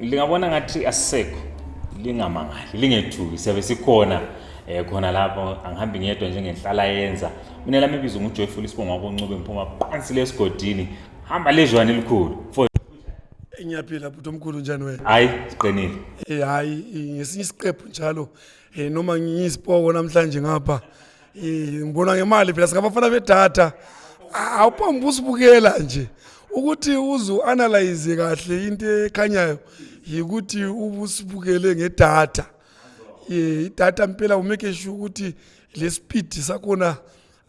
lingabona ngathi asisekho lingamangali lingethuki siyabe sikhona um khona lapho angihambi ngedwa njengenhlala yenza mina lami ibizo ngujoyful isibonga koncube ngiphuma phansi lesigodini hamba lezwane elikhulu ngiyaphila bhuti omkhulu njani wena hayi siqinile um hayi ngesinye isiqephu njalo um noma ngiyisipoko namhlanje ngapha ngibona ngemali phela singabafana bedata awuphambi usibukela nje ukuthi uze u-analyze kahle into ekhanyayo yikuthi ubusibukele ngedata idata mpela umeke sure ukuthi le speed sakhona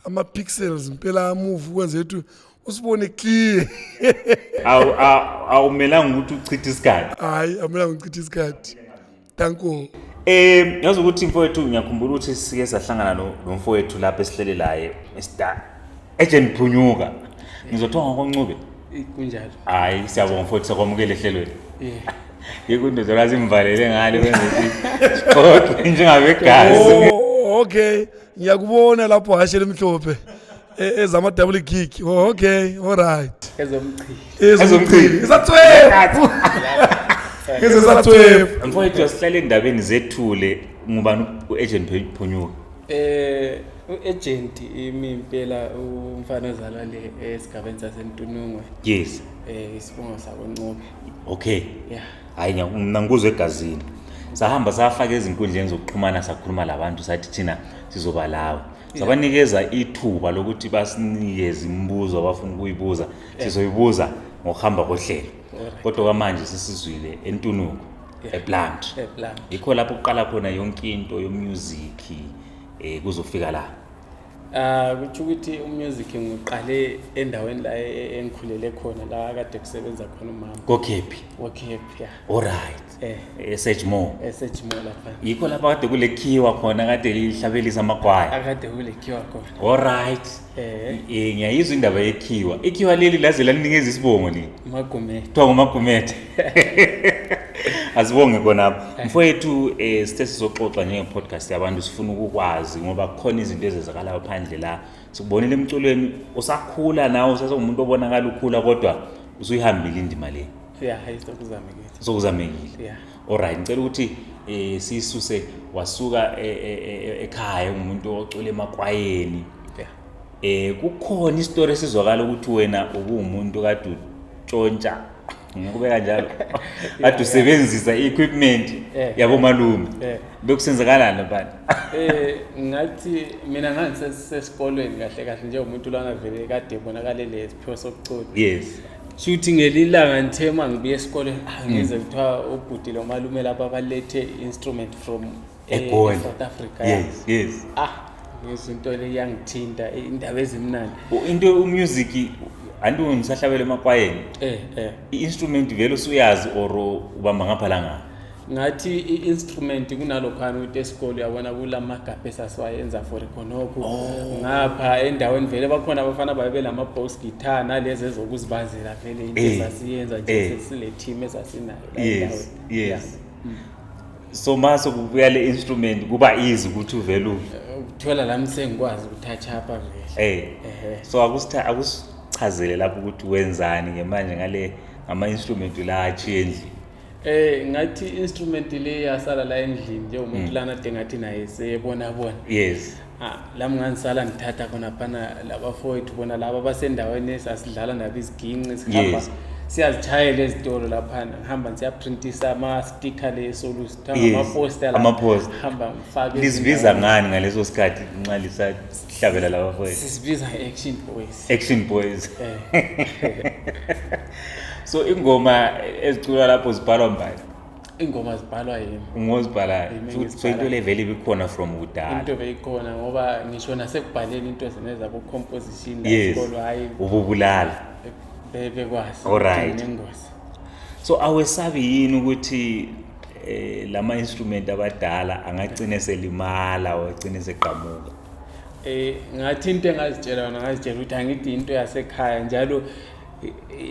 ama-pixels mpela amove ukwenze ukuthi usibone clear awumelanga ukuthi uchithe isikhathi hayi awumelanga uchithe isikhathi Danko. Eh ngazi ukuthi mfowethu ngiyakhumbula ukuthi sike sahlangana no no mfowethu lapha esihlele laye Mr. Agent Phunyuka. Ngizothiwa ngokoncube. Eh, Kunjalo. Hayi siyabonga mfowethu sakwamukele ehlelweni. Eh. Ikundodo lazi imvalele ngale kwenza ukuthi kodwa njengabegazi. Oh, okay. Ngiyakubona lapho hashe lemhlophe. E- ezama double kick oh, okay all right ezomchili ezomchili isathwebu ngeze sathwebu mfowethu asihlale endabeni zethule ngubani u-agent Phu- phunyuka eh uagent imi impela umfana ozalwa le esigabeni sasentunungwe yes eh isibongo sakoncobe okay yeah hayi ngiya- mna ngikuzwe egazini sahamba safaka ezinkundleni zokuxhumana sakhuluma labantu sathi thina sizoba lawo sabanikeza ithuba lokuthi basinikeze imibuzo abafuna ukuyibuza sizoyibuza ngokuhamba kohlelo kodwa kwamanje sisizwile entunuko eplant yikho lapho kuqala khona yonke into yomusic um kuzofika la um kutho ukuthi umusic ngiqale endaweni la e-, e-, engikhulele khona la kade kusebenza khona umama kokhephi kokhephi ya olright eh eSedgemore eSedgemore lapha yikho lapha kade kulekhiwa khona kade lihlabelisa amagwaya akade kulekhiwa khona all right eh, eh ngiyayizwa indaba yekhiwa ikhiwa leli laze lalinikeza isibongo ni magumethe kuthiwa ngumagumethe asibonge khonapho eh. mfowethu um eh, sithe sizoxoxa njengepodcast yabantu sifuna ukukwazi ngoba kukhona izinto ezenzakalayo phandle la sikubonile emculweni usakhula nawe usasengumuntu obonakala ukhula kodwa usuyihambile indima le yeah hayi sokuzamekile sokuzamekile yeah alright ngicela ukuthi eh sisuse wasuka e, e, e, ekhaya umuntu ocula emakwayeni eh kukhona istory esizwakala ukuthi wena ubuwumuntu kade utshontsha ngikube kanjalo kade usebenzisa equipment yabo malume bekusenzakalana bani eh ngathi mina ngangisesikolweni kahle kahle njengomuntu lana vele kade bonakalele isiphiwo sokucula yes shuthi ngelilanga ngithe uma ngibuya esikoleni ah, ngize kuthiwa ubhuti lo malume lapha balethe instrument from eh, Egoli. south africa yes yes ah ngizwa into le iyangithinta eh, indaba ezimnandi U- into umusic anti ngisahlabela emakwayeni eh eh i-instrument vele usuyazi or ubamba ngapha la ngapha ngathi i-instrument kunalokhana ukuthi esikole uyabona kula magabha esasiwayenza for khonokho oh. ngapha endaweni vele bakhona abafana babe belama-box guitar nalezi ezokuzibazela vele into eh. esasiyenza nje eh. sesile team esasinayo yes yes mm. so mase kubuya le instrument kuba easy ukuthi uvele ukuthola lami sengikwazi ukuthatha apha vele eh so akusitha akusichazele lapho ukuthi wenzani ngemanje ngale ama instrument la achiye endlini Eh ngathi instrument le yasala la endlini njengomuntu mm. lana de ngathi naye seyebona bona. Yes. Ah lami nganisala ngithatha khona phana labafowethu bona laba basendaweni esasidlala nabo iziginci sihamba. Yes. siyazitshayela ezitolo laphana ngihamba ngiyaprintisa ama-sticker leso luhamba ama-poster ngifake lizibiza ngani ngaleso sikhathi nxa lisati hlabela laba mfowethu sisibiza action boys action boys eh. so ingoma eziculwa lapho zibhalwa mbani ingoma zibhalwa yini ngozibhalayo so into le vele ibikhona from kudala into beyikhona ngoba ngisho nasekubhaleni into zine zabo composition la sikolo hayi ububulala bebekwazi alright nengozi so awesabi yini ukuthi eh lama instrument abadala angagcina selimala ogcina seqhamuka eh ngathi into engazitshela yona ngazitshela ukuthi angithi into yasekhaya njalo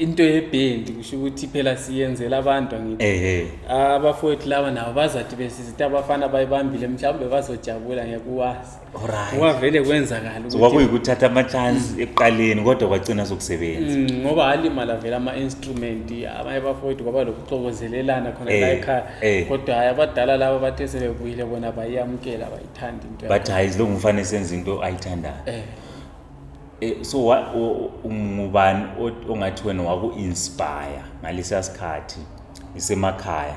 into yebhendi kusho ukuthi phela siyenzela abantu angithi abafowethu laba nabo bazathi besizita abafana bayibambile mhlawumbe bazojabula ngeke uwazi Alright. Wavele kwenzakala ukuthi kwakuyikuthatha ama chance mm. ekuqaleni kodwa kwagcina sokusebenza. Mm, ngoba alimala vele ama instrument abanye bafowethu kwaba lokuxokozelelana khona eh, la ekhaya eh. kodwa hayi abadala laba bathe sebebuyile bona bayamkela bayithanda into. But hayi lo ngumfana senza into ayithandayo. Eh. eh so ngubani ongathi wena waku inspire ngalesiya sikhathi isemakhaya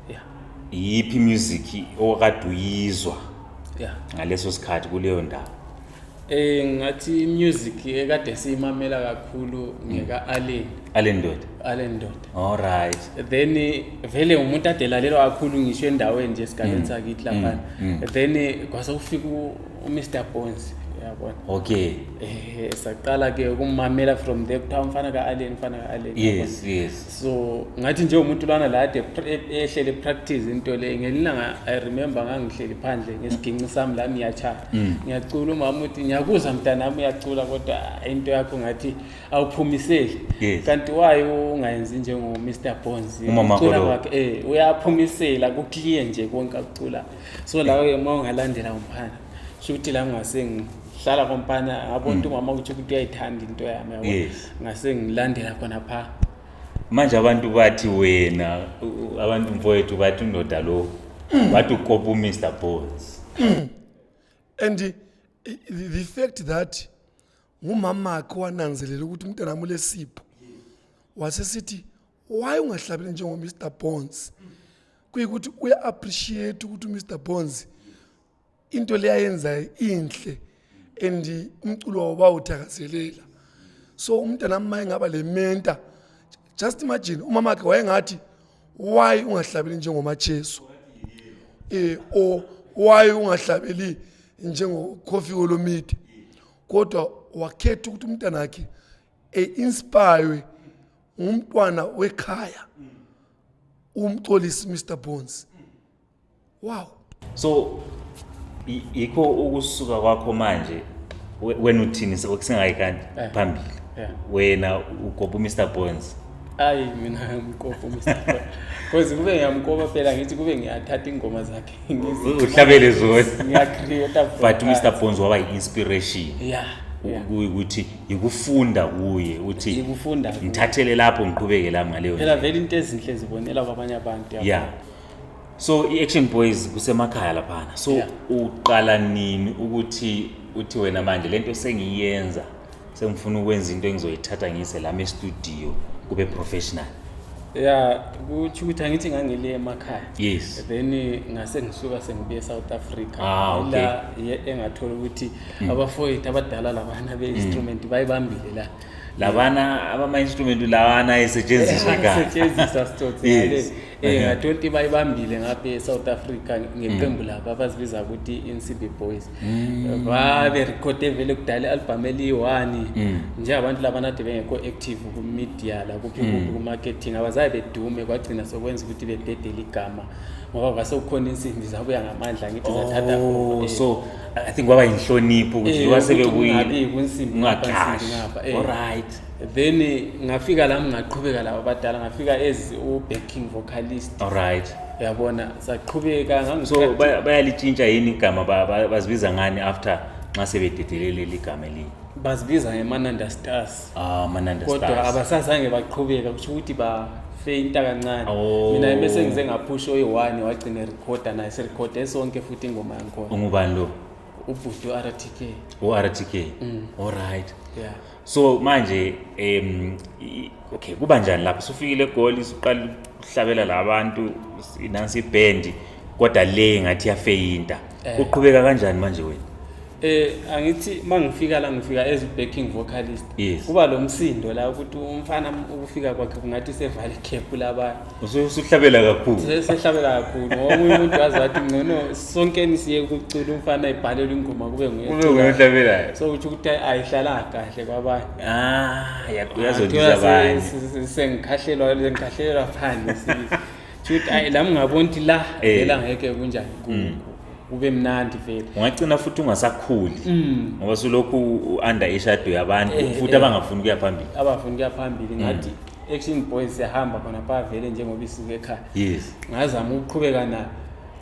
yeah. iyiphi music okade uyizwa yeah. ngaleso sikhathi kuleyo ndawo Eh ngathi music ekade siyimamela kakhulu ngeka mm. Allen. Allen Ndoda. Allen Ndoda. All right. Then vele umuntu adelalelwa kakhulu ngisho endaweni nje esigabeni mm. sakithi lapha. Mm. Then kwase ufika uMr Bones. yabona okay eh saqala ke ukumamela from there kuthiwa umfana ka-allen umfana ka-allen yes yes so ngathi nje umuntu lana la ade ehlele practice into le ngelilanga i remember ngangihleli phandle ngesiginci sami la ngiyacha mm. ngiyacula umama uthi ngiyakuza mntana wami uyacula kodwa into yakho ngathi awuphumiseli kanti waye ungayenzi njengo Mr Bones ucula wakhe eh uyaphumisela ku clear nje konke akucula so lawo uma ungalandela umphana shuthi la ngase hlala kompana yabo nto umama uthi ukuthi uyayithanda into yami yabo Yes. ngase ngilandela khona pha manje abantu bathi wena u- u- abantu mfowethu bathi undoda lo bathi ukopa umr bones and eh, the the fact that ngumamakhe wananzelela ukuthi umntana wami ulesipho wasesithi why ungahlabeli njengomr bones kuyikuthi uya-appreciate ukuthi umr bones into le ayenzayo inhle and umculo wawo bawuthakazelela so umntana wami maye ngaba le menta just imagine umama wakhe wayengathi why ungahlabeli njengomacheso eh o why ungahlabeli njengocoffee olomide kodwa wakhetha ukuthi umntana wakhe e-inspire ngumntwana wekhaya umxolisi Mr Bones wow so yikho ukusuka kwakho manje wena uthini sekusingayi kanti eh. phambili eh. wena ugoba uMr Bones ayi mina ngimkopa uMr Bones cause kube ngiyamkopa phela ngithi kube ngiyathatha ingoma zakhe uhlabele zona ngiyacreate but uMr Bones waba yi-inspiration yeah ukuthi yikufunda kuye uthi ngithathele lapho ngiqhubeke lami ngaleyo phela vele into ezinhle zibonela kwabanye abantu yeah so i-action boys kusemakhaya laphana so yeah. uqala nini ukuthi uthi wena manje le nto sengiyenza sengifuna ukwenza into engizoyithatha ngiyise lami estudio kube professional ya kutsho ukuthi angithi ngangile emakhaya yes then ngase ngisuka sengibuye eSouth Africa ah, okay. la engathola ukuthi mm. abafowethu abadala labana be-instrument mm. bayibambile la labana abama-instrument lawana ayesetshenziswa kasetshenziswa sitsotsi yes. Eh, uh-huh. ngathonti bayibambile ngapha e-south africa ngeqembu mm. labo abazibiza ukuthi i-ncb boys mm. baberekhode vele kudala i-albhamu eliyi-one mm. nje abantu labanade bengekho active kumedia la kuphi kuphi kumarketing abazaye bedume kwagcina sokwenza ukuthi bebhedele igama ngoba kwase kukhona insimbi zabuya ngamandla ngithi zathatha oh, so I think kwaba inhlonipho ukuthi Eh, wasebe ukuthi kuyini. kungabi kunsimbi ngapha, Ungagashi. insimbi ngapha, eh. Alright. then ngafika lami ngaqhubeka laba badala ngafika as u-backing vocalist Alright. yabona saqhubeka So ngangisu- baya- bayalitshintsha yini igama ba- ba- bazibiza ngani after nxa sebededelele leli gama elinye. bazibiza ngemananda stars Ah, Mananda kodwa Stars. abasazange baqhubeka kusho ukuthi bafeinta kancane Oh. mina bese ngize ngaphusha oyi-one wagcina erekhoda naye serekhode sonke futhi ingoma yangikhona Ungubani lo? ubhuti u-rtk URTK. All right. ya So manje em i- okay kuba njani lapho sufikile egoli suqala ukuhlabela labantu inansi ibhendi kodwa le ngathi yafeyinta. Eh. Uqhubeka kanjani manje wena? Eh angithi mangifika la ngifika as backing vocalist. Yes. Kuba lo msindo la ukuthi umfana ukufika kwakhe kungathi sevale cap laba. Usuhlabela kakhulu. Sehlabela kakhulu. Ngoba umuntu wazi wathi ngcono sonkeni siye kucula umfana ebhalelwa ingoma kube nguye. Kube nguye ohlabelayo. So uthi ukuthi ayihlala kahle kwabanye. Ah, yakuyazondiza abanye. Sengikhahlelwa ngikhahlelwa phansi. Futhi ayi la ngabona ukuthi la eh. vela ngeke kunjani kuku. Mm. kube mnandi vele ungagcina futhi ungasakhuli mm. ngoba sulokhu u-under ishado yabantu eh, futhi eh. abangafuni ukuya phambili abafuni ukuya phambili ngathi mm. action boys siyahamba khona pha vele njengoba isuke ekhaya yes ngazama ukuqhubeka nayo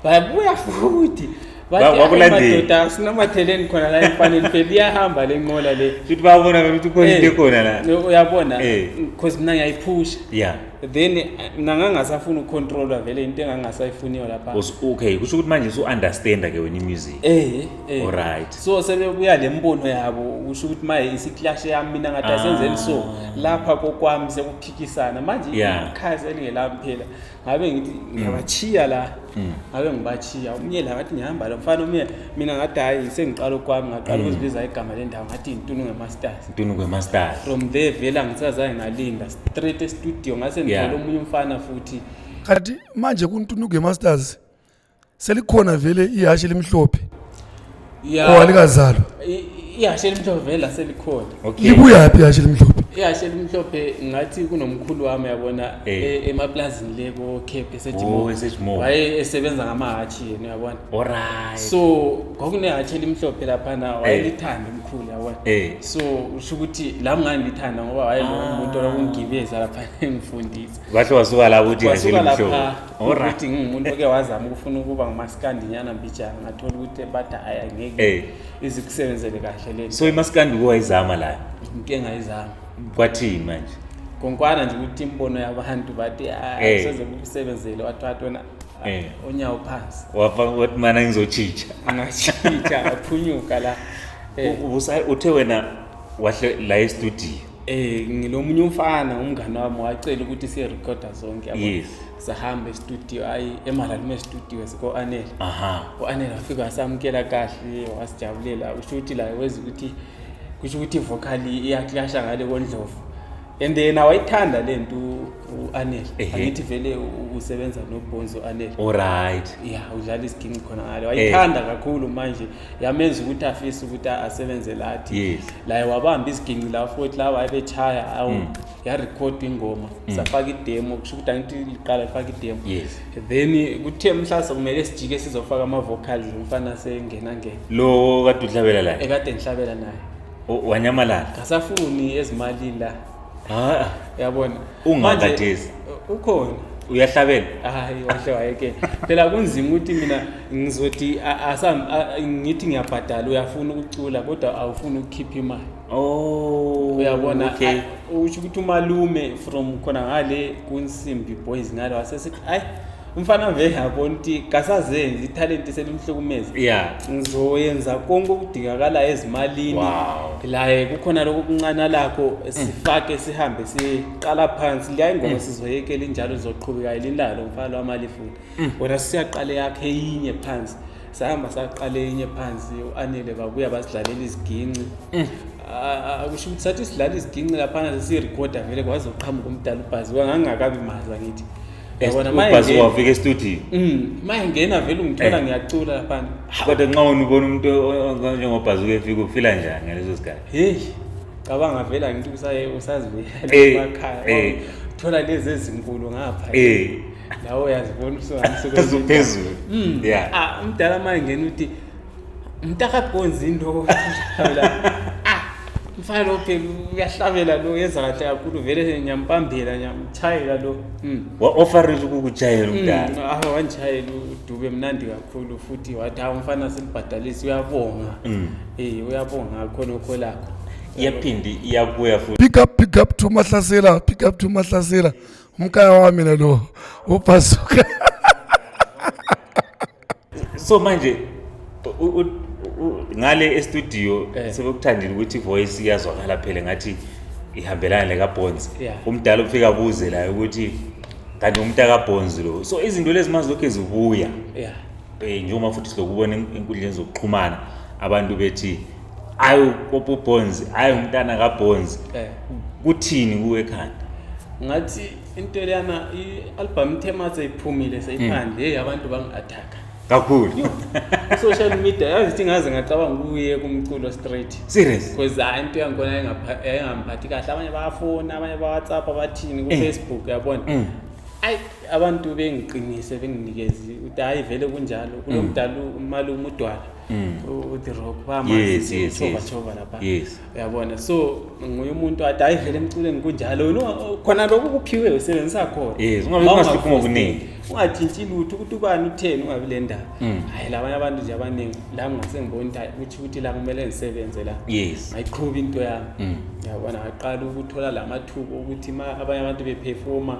bayabuya futhi bakulandela sinamatheleni khona la emfaneni phela iyahamba le nqola le futhi babona ukuthi khona into eh, ekhona la uyabona because mina ngiyayiphusha yeah then eh, mina ngangasafuni ukucontrola vele into engangasayifuniyo lapha okay kusho ukuthi manje usu-understanda ke wena imusic eh eh alright so sebebuya le mbono yabo kusho ukuthi manje isiklash yami mina ngathi ah. asenzeni so lapha kokwami sekuphikisana manje ikhazi elingelami phela ngabe ngithi ngiyabachiya la Mm. ngabe ngibachiya umyela ngathi ngihamba lo mfana umyela mina ngathi hhayi sengiqala okwami ngaqala mm. ukuzibiza igama le ndawo ngathi yintunukwe masters ntunukwe masters from there vele angisazange ngalinda straight estudio ngase ngithole omunye umfana futhi kanti manje kuntunukwe masters selikhona vele ihhashi elimhlophe ya oh alikazalwa i- ihashe elimhlophe vele laselikhona okay libuyaphi yashe limhlophe ihashe elimhlophe ngathi kunomkhulu wami yabona Eh. e- emaplazini le ko-cape Oh, esejimo esejimo. waye esebenza ngamahatshi yena uyabona alright so kwakunehatshi elimhlophe laphana Eh. wayelithanda umkhulu yabona Eh. so usho ukuthi la mngani lithanda ngoba Ah. wayelomuntu olakungibeza lapha engifundisa kahle wasuka lapho uthi ihashe wasuka elimhlophe lapha Alright ngingumuntu oke wazama ukufuna ukuba ngumaskandi nyana mbijana ngathola ukuthi bathi hayi angeke Eh. izikusebenzele kahle le so imaskandi uke wayizama la into engayizama kwathini manje konkwana nje ukuthi imibono yabantu bathi Eh. hayi soze kukusebenzele wathatha wena ah, Eh. onyawo phansi wafa wathi mana ngizotshintsha angashintsha aphunyuka la Eh. U- ubusa- uthe wena wahle la estudio Eh ngilomunye umfana umngane wami wacela ukuthi siye recorder zonke yabo. Yes. Sahamba e-studio ayi eMalalume studio siko Anel. Aha. UAnel wafika wasamkela kahle wasijabulela usho ukuthi la wezi ukuthi kusho ukuthi vocal iyaclasha ngale kondlovu. And then awayithanda lento uAnel. Ehhe. Angithi vele u- usebenza noBonzo Anel. Alright. Yeah, udlala isiginci khona ngale. Wayithanda kakhulu manje. yamenza ukuthi afise ukuthi asebenze lathi yes. laye wabamba iziginci la futhi lawa ayebechaya awu mm. yarekhoda ingoma mm. safaka idemo kusho ukuthi angithi liqala lifaka idemo yes. then kuthe mhlawumbe kumele sijike sizofaka ama-vocals umfana sengena ngena lo kade uhlabela la ekade ngihlabela naye wanyamalala ngasafuni ezimalini la ha yabona ungakadezi ukhona uyahlabela hayi wahle wayeke phela kunzima ukuthi mina ngizothi ngithi ngiyabhadala uyafuna ukucula kodwa awufuni ukukhipha imali oh uyabona okay. usho ukuthi umalume from khona ngale kunsimbi boys ngale wasesethi ayi umfana vele abona ukuthi kasazenzi ithalenti selimhlukumeza yeah ngizoyenza konke okudingakalayo ezimalini Wow. laye kukhona lokho kuncana lakho sifake sihambe siqala phansi liya ingoma sizoyekela injalo lizoqhubeka yilindalo mfana lwamali futhi wena siyaqale yakhe yinye phansi sahamba saqala enye phansi u-anele babuya basidlalela iziginci eh. ah, ah, kusho ukuthi sathi sidlala iziginci laphana sesiyirekhoda vele kwaze uqhamuka umdala ubhaziwa ngangingakabi mazi bakithi ubhazi wafika estudio mm, ma engena vele ungithola eh. ngiyacula laphana kodwa nxa wena ubona umuntu njengobhazi ukefika ufila njani ngaleso sikhathi heyi cabanga vele angithi usazibuyela eh, emakhaya thola lezi ezinkulu ngapha nawe uyazibona usuphezulu hmm. ah, umdala manje ngena uthi mntakagonzi into ah, mfana lo phela uyahlabela lo yenza kahle kakhulu vele ngiyampambela ngiyamchayela lo hmm. wa-ofarela ukukutshayela hmm, umdala awe wangitshayela udube mnandi kakhulu futhi wathi hawu mfana silibhadalisi uyabonga um uyabonga ngakho nokho lakho iyaphinde iyabuya futhi pick up pick up to mahlasela pick up to mahlasela umkaya wami nalo ubhazuka so manje ngale estudio eh. sebekuthandile ukuthi ivoice iyazwakala phela ngathi ihambelana nekabonzi umdala ufika abuze layo ukuthi kanti umntakabhonzi lo so izinto lezi mazilokhu zibuya yeah. Eh, njengoba futhi silokubona enkundleni zokuxhumana abantu bethi ayi upopo bonzi ayi umntana kabonzi eh. kuthini kuwe ekhanda ngathi into leyana i-album ithema seyiphumile seyiphandle heyi abantu bangi-athaka kakhulu social media yazi thi ngaze ngacabanga ukuye kumculo straight serious because hayi into yangibona yayingamphathi kahle abanye bayafona abanye bawhatsapp abathini kufacebook yabona mm. ayi abantu bengiqinise benginikezi uthi hayi vele kunjalo kulo mm. mdala umalume udwala mm. uthi rock bamazishovatshova lapha uyabona so nguye umuntu athi hayi vele emculweni kunjalo khona lokhu kuphiwe usebenzisa khona ungatshintshi lutho ukuthi ubani utheni ungabi le ndaba mm. hhayi labanye abantu nje abaningi la ngase ngibona ukuthi ukuthi la kumele ngisebenze la yes ayiqhuba into yami mm. yabona ngaqala ukuthola la mathuba ukuthi ma abanye abantu beperforma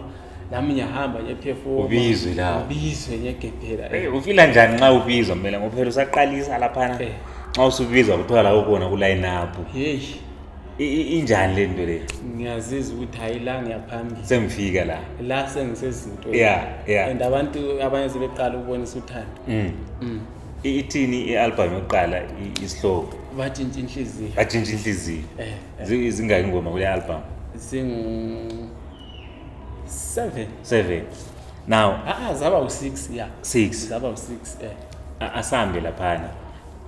nami ngiyahamba ngiyephefoma ubizwe la ubizwe ngiyegebhela hey ufila njani nxa ubizwa mina ngophela usaqalisa laphana eh. nxa usubizwa kuthiwa la ukona ku line up hey injani le nto le ngiyaziza ukuthi hayi la ngiyaphambili sengifika la la sengisezintweni yeah yeah and abantu abanye sebeqala ukubonisa uthando mm. mm. I- ithini i-albhamu yokuqala i- isihloko batshintsha inhliziyo batshintsha inhliziyo Eh, Zi- zingaki ingoma kule albhamu zingu seven seven now aa zaba u-six ya Six. zaba u-six eh a- asambe laphana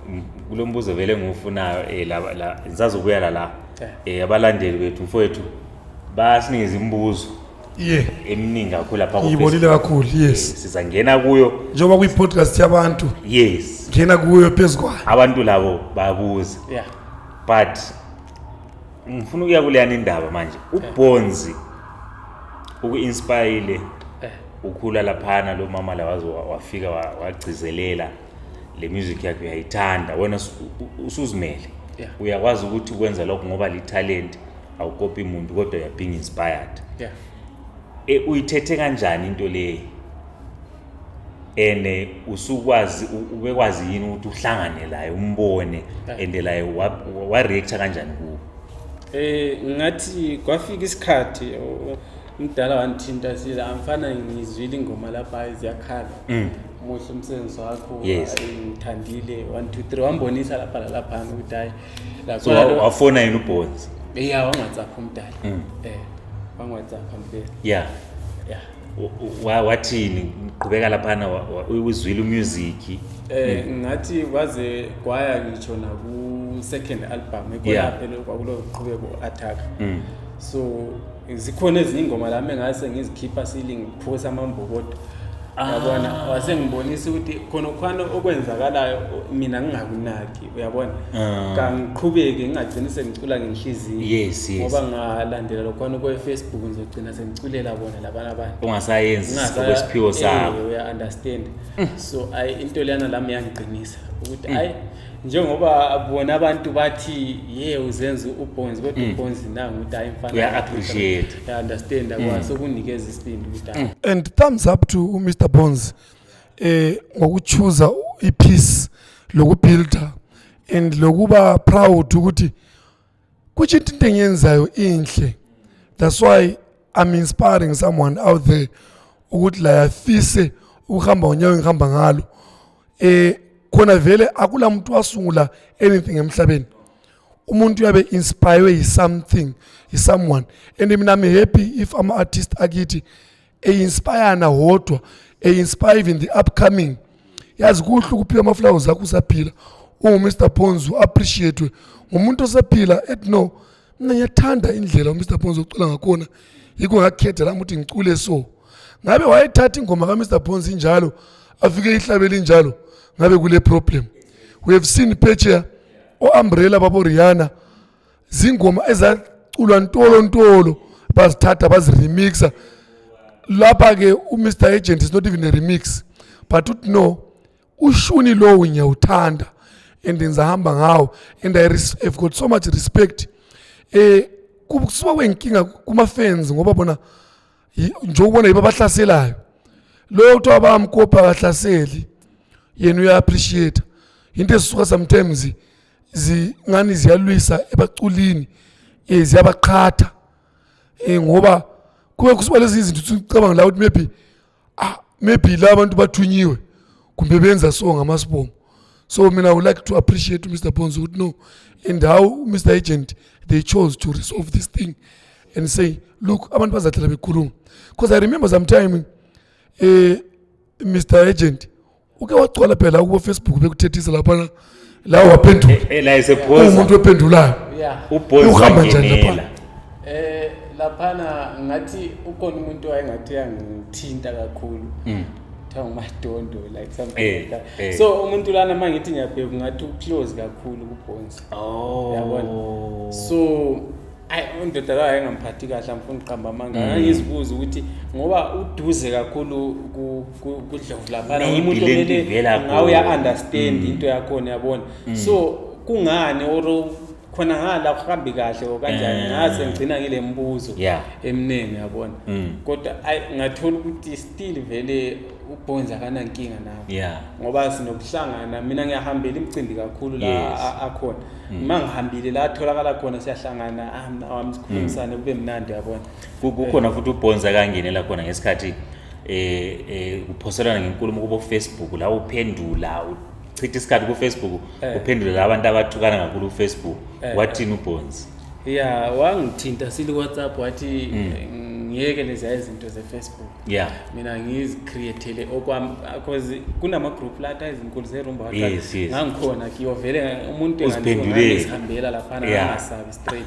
M- kulo mbuzo vele ngiwufunayo um la, la, ngisazobuyela la Eh. um abalandeli bethu mfowethu basinikeza imibuzo ye eminingi kakhulu lapha ku ngiyibonile kakhulu yes sizangena kuyo njengoba kuyi-podcast yabantu yes ngena kuyo phezu kwayo abantu labo bayabuza yeah but ngifuna ukuya kuleyana indaba manje ubonzi uku-inspayile Eh. ukhula laphana lo mama la waze wa- wafika wa- wagcizelela le music yakhe uyayithanda wena usu- u- usuzimele Yeah. uyakwazi ukuthi ukwenza lokho ngoba lithalenti awukopi muntu kodwa you're being inspired yeah e, uyithethe kanjani into leyi ene usukwazi ubekwazi yini ukuthi uhlangane laye umbone ende laye wa react kanjani ku eh ngathi kwafika isikhathi umdala wanthinta siza amfana ngizwile ingoma lapha iziyakhala mm. muhle umsebenzi wakho ngithandile 1 2 3 wambonisa lapha lapha ukuthi hayi so wafona yini ubonzi ya wangwatsapha umdala mm. eh wangwatsapha mbe ya ya wathini qhubeka laphana uzwile umusic eh mm. ngathi waze kwaya ngisho naku second album ekwelaphela kwakulo qhubeko attack mm. so zikhona ezinye ingoma la mengase ngizikhipha siling phosa amambokodo ah. yabona wase ngibonisa ukuthi khona khona okwenzakalayo mina ngingakunaki uyabona ah. kangiqhubeke ngingagcini sengicula ngenhliziyo yes yes ngoba ngalandela lokhona kwe Facebook ngizogcina sengiculela bona labana abantu ungasayenzi okwesiphiwo sakho eh, uya understand mm. so ay into leyana lami yangiqinisa ukuthi mm. ay njengoba bona abantu bathi ye uzenza ubonzi kodwa mm. ubonzi nangu ukuthi hayi mfana uya appreciate ya understand mm. akwazi ukunikeza isibindi ukuthi mm. and thumbs up to Mr Bonds eh ngokuchuza ipeace lokubuilder and lokuba proud ukuthi Kuthi into engiyenzayo inhle. That's why I'm inspiring someone out there ukuthi la yafise ukuhamba ngonyawo engihamba ngalo. Eh khona vele akula muntu wasungula anything emhlabeni. umuntu uyabe inspired is something is someone and mina I'm happy if I'm artist akithi einspirana wodwa einspire even the upcoming yazi kuhle ukuphiwa amaflowers akho usaphila uwumr ponzi u-appreciatwe ngumuntu osephila et no mina ngiyathanda indlela umr ponzi ocula ngakhona yikho ngakhetha lami ukuthi ngicule so ngabe wayethatha ingoma kamr ponzi injalo afike ihlabeli injalo ngabe kule problem we have seen phetsheya o-umbrella baboriyana zingoma ezaculwa ntolo ntolo bazithatha baziremixa lapha ke uMr Agent is not even a remix but uthi no ushuni lowo ngiyawuthanda and ngizahamba ngawo and I have got so much respect eh kusuka kwenkinga kuma fans ngoba bona nje ubona yiba bahlaselayo loyo kuthiwa bamkopa kahlaseli yena uya appreciate into esisuka sometimes zingani ziyalwisa ebaculini um ziyabaqhatha um ngoba kube kusuba lezi izinto sicabanga la ukuthi maybe ah maybe la abantu bathunyiwe kumbe benza so ngamasibongo so mina i would like to appreciate mr bonzo ukuthi no and how mr agent they chose to resolve this thing and say look abantu bazahlala bekhuluma because i remember sometime um eh, mr agent uke wagcwala phela kubo Facebook bekuthethisa lapha la waphendula eh, eh, la esephoza umuntu ophendulayo ubhozi uhamba njani lapha eh laphana ngathi ukhona umuntu wayengathi yangithinta kakhulu mm. kuthiwa ngumadondo like something eh, like that eh. so umuntu lana uma ngithi ngiyabheka ngathi uclose kakhulu kubhonsi oh. yabona so ayi undoda layo ayingamphathi kahle angifuni uqamba amanga mm. angizibuza ukuthi ngoba uduze kakhulu kudlovu laphana umuntu omele ngawe uya-understand mm. into yakhona yabona mm. so kungani or khona ngala kuhambi kahle okanjani eh. ngase ngigcina ngile mbuzo eminingi yabona kodwa ayi ngathola ukuthi still vele ubhonza akanankinga nawo ngoba sinokuhlangana mina ngiyahambela imicimbi kakhulu la akhona Mm. uma ngihambile la atholakala khona siyahlangana awami ah, sikhulumisane mm. kube mnandi yabona kukhona futhi ubhonza kangenela khona ngesikhathi eh, eh kuphoselana ngenkulumo kubo Facebook la uphendula uchitha isikhathi ku Facebook eh. uphendula la abantu abathukana kakhulu ku Facebook eh. wathini ubhonzi yeah wangithinta sili WhatsApp wathi mm. ngiyeke lezi izinto ze Facebook yeah mina ngizicreatele okwami because kunama group lata izinkulu zerumba yes, yes. ngangikhona kiyovele umuntu engazihambela laphana yeah. angasabi straight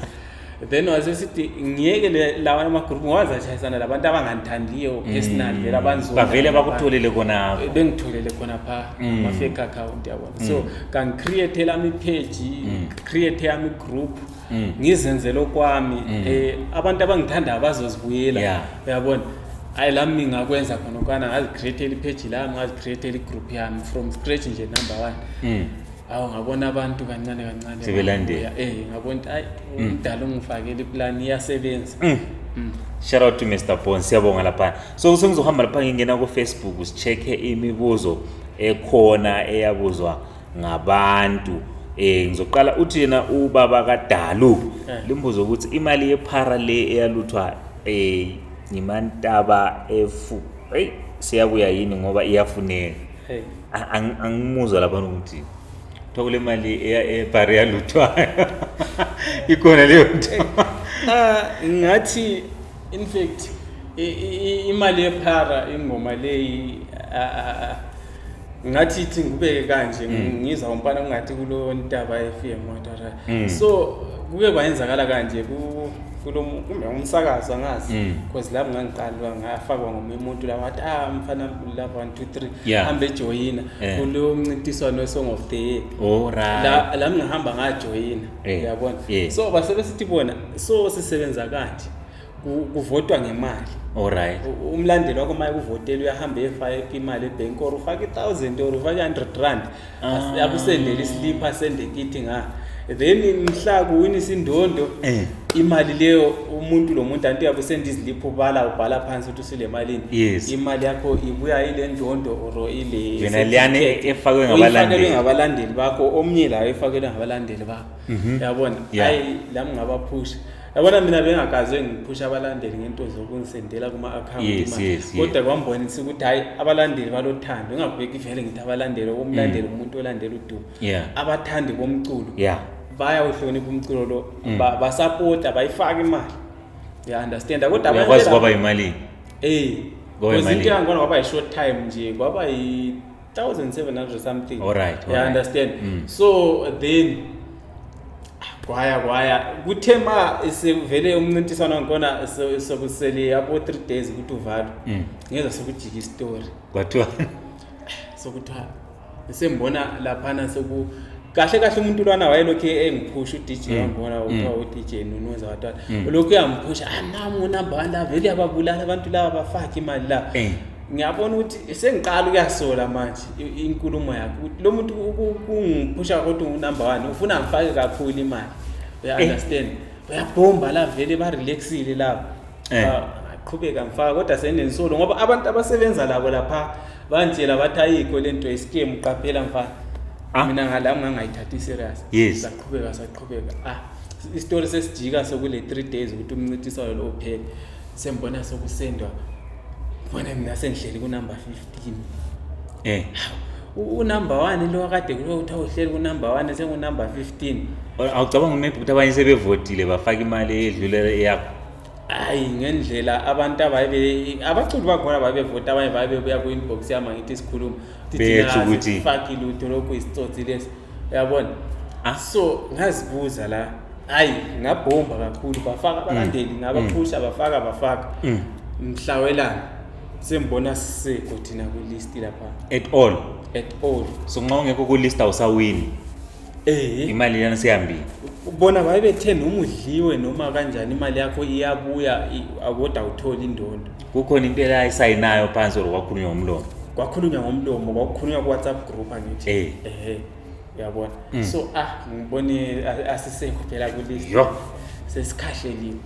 then wase sithi ngiyeke lawa amagroup ngiwazi ashayisana labantu abangangithandiyo mm. personal vele abanzobavele bakutholele khona bengitholele khona pha mm. ama-fake account yabona so mm. kangicreate lami ipage create yami igroup mm. ngizenzele okwami mm. eh abantu abangithanda abazozibuyela yeah. uyabona hayi lami ngingakwenza khona okwana ngazicreatela ipheji lami ngazicreatela igroup yami from scratch nje number one mm. awu ngabona abantu kancane kancane sebelandela eh ngabona hayi mm. umdala ungifakele iplan iyasebenza mm. mm. shout out to Mr Bon siyabonga lapha so sengizohamba lapha ngingena ku Facebook usicheke imibuzo ekhona eyabuzwa ngabantu eh ngizoqala uthi yena ubaba kaDalu eh. limbuzo ukuthi imali yephara le eyaluthwa eh ngimantaba efu hey siyabuya yini ngoba iyafuneka hey angimuzwa lapha ukuthi kuthiwa kule mali ebhari yaluthwayo ikhona leyo nto ah, ngathi in fact imali yephara ingoma leyi ngathi ithi ngibeke kanje mm. ngizwa umfana kungathi kulo ntaba FM wantara mm. so kuke kwayenzakala kanje ku kulo kumbe umsakazo angazi mm. because lapho ngangiqalwa ngafakwa ngomunye umuntu la wathi ah mfana lava 1 2 3 hambe joyina eh. kulo mncintiswano wesong of the year oh, la la ngihamba ngajoyina eh. uyabona so basebesithi bona so sisebenza kanje kuvotwa ngemali alright umlandeli wakho maye kuvotela uyahamba efake imali ebhenki or ufake i-thousand or ufake i-hundred rand ah. akusendele isiliphu asende kithi nga then mhla kuwina isindondo eh. imali leyo umuntu lo muntu anti uyabe usenda iziliphu ubala ubhala phansi ukuthi usile malini imali yakho ibuya ile ndondo or ileyonaleyane efakwe ngabalandeli bakho omnye layo efakelwe ngabalandeli bakho mhm. yabona hayi lami ngabaphusha yabona mina bengakaze ngiphusha abalandeli ngento zokungisendela kuma-akhawunti Yes, imali. yes, yes. kodwa kwambonisa ukuthi hhayi abalandeli balothando ingabheki vele ngithi abalandeli umlandeli umuntu olandela udumo Mm. Yeah. abathandi bomculo Yeah. bayawuhlonipha umculo lo Mm. ba- basapota bayifake imali ya understand kodwa abanye uyakwazi bela- kwaba yimalini Eh. Kwaba Because into imali. yangibona kwaba yi-short time nje kwaba yi 1700 something all right all you right. understand mm. so then kwaya kwaya kuthe ma sekuvele umncintiswano wankona sokusele yabo 3 days ukuthi uvalwe mm. ngeza sokujika istory kwathiwa sokuthiwa sembona laphana soku kahle kahle umuntu lwana wayelokhu engiphusha uDJ mm. wangibona mm. uthiwa uDJ Nunuza watwana mm. ulokhu uyamphusha ah nami unumber one love eliyababulala abantu laba bafake imali la eh. ngiyabona ukuthi sengiqala ukuyasola manje inkulumo yakho lo muntu kungiphusha kodwa unumber one ufuna ngifake kakhulu imali uya eh. understand uyabhomba la vele ba relaxile laba eh. ah, qhubeka ngifaka kodwa senensolo ngoba abantu abasebenza labo lapha Bantshela bathi ayikho le nto isikimu qaphela mfana. Ah. Mina ngala ngangayithathi serious. Yes. Saqhubeka saqhubeka. Ah, isitori sesijika sokule 3 days ukuthi umncithisayo lo uphele. Sembona sokusendwa. Bona mina sengihleli ku number 15. Eh. unumber one lo kade kulo uthi awuhleli kunumber one sengunumber fifteen awucabanga maybe ukuthi abanye sebevotile bafake imali edlulela eyakho hayi ngendlela abantu abayibe abaculi bakhona babevota abanye babebuya ku-inbox yami angithi sikhuluma Bethu ukuthi- faki lutho lokhu isitsotsi lesi uyabona Ah. so ngazibuza la hayi ngabhomba kakhulu bafaka abalandeli ngabaphusha bafaka bafaka Mm. mhlawelana sembona sisekho thina kwilisti lapha at all at all so nxa ungekho kulist awusawini Eh. imali lena sihambile bona babethe noma udliwe noma kanjani imali yakho iyabuya i- akoda uthole indondo kukhona into elayisayinayo phansi or kwakhulunywa ngomlomo kwakhulunywa ngomlomo kwakukhulunywa ku-whatsapp group angithi Eh. Mm. ehe uyabona so ah ngibone a- asisekho phela kulist Yo. sesikhahleliwe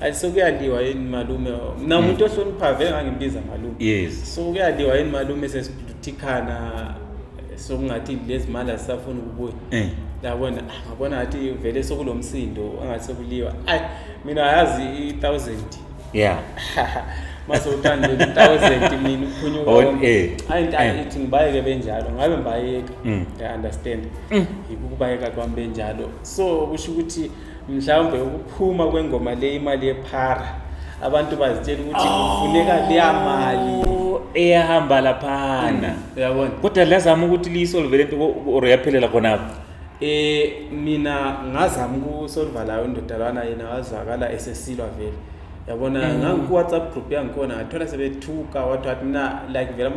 ayi sekuyaliwa yini malume mina hmm. umuntu ohloniphayo vele ngangimbiza malume yes so kuyaliwa yini malume sesibhuthikhana sokungathi lezi mali asisafuni ukubuya eh. yabona ah, ngabona ngathi vele sokulo msindo angathi sekuliwa ayi mina yazi i-thousand yeah mase uthanda i-thousand mina uphunyuka oh, eh. ayi ntathi eh. ithi ngibayeke benjalo ngabe ngibayeka mm. i-understand mm. yikukubayeka kwami benjalo so kusho ukuthi mhlawumbe ukuphuma kwengoma le imali yephara abantu bazitshela ukuthi kufuneka leya mali eyahamba laphana uyabona kodwa liyazama ukuthi liyisolve lento or yaphelela khonapho eh mina ngazama ukusolva layo indodalwana yena wazwakala esesilwa vele yabona mm. ngangiku-whatsapp group yangikhona ngathola sebethuka wathi wathi mina like vele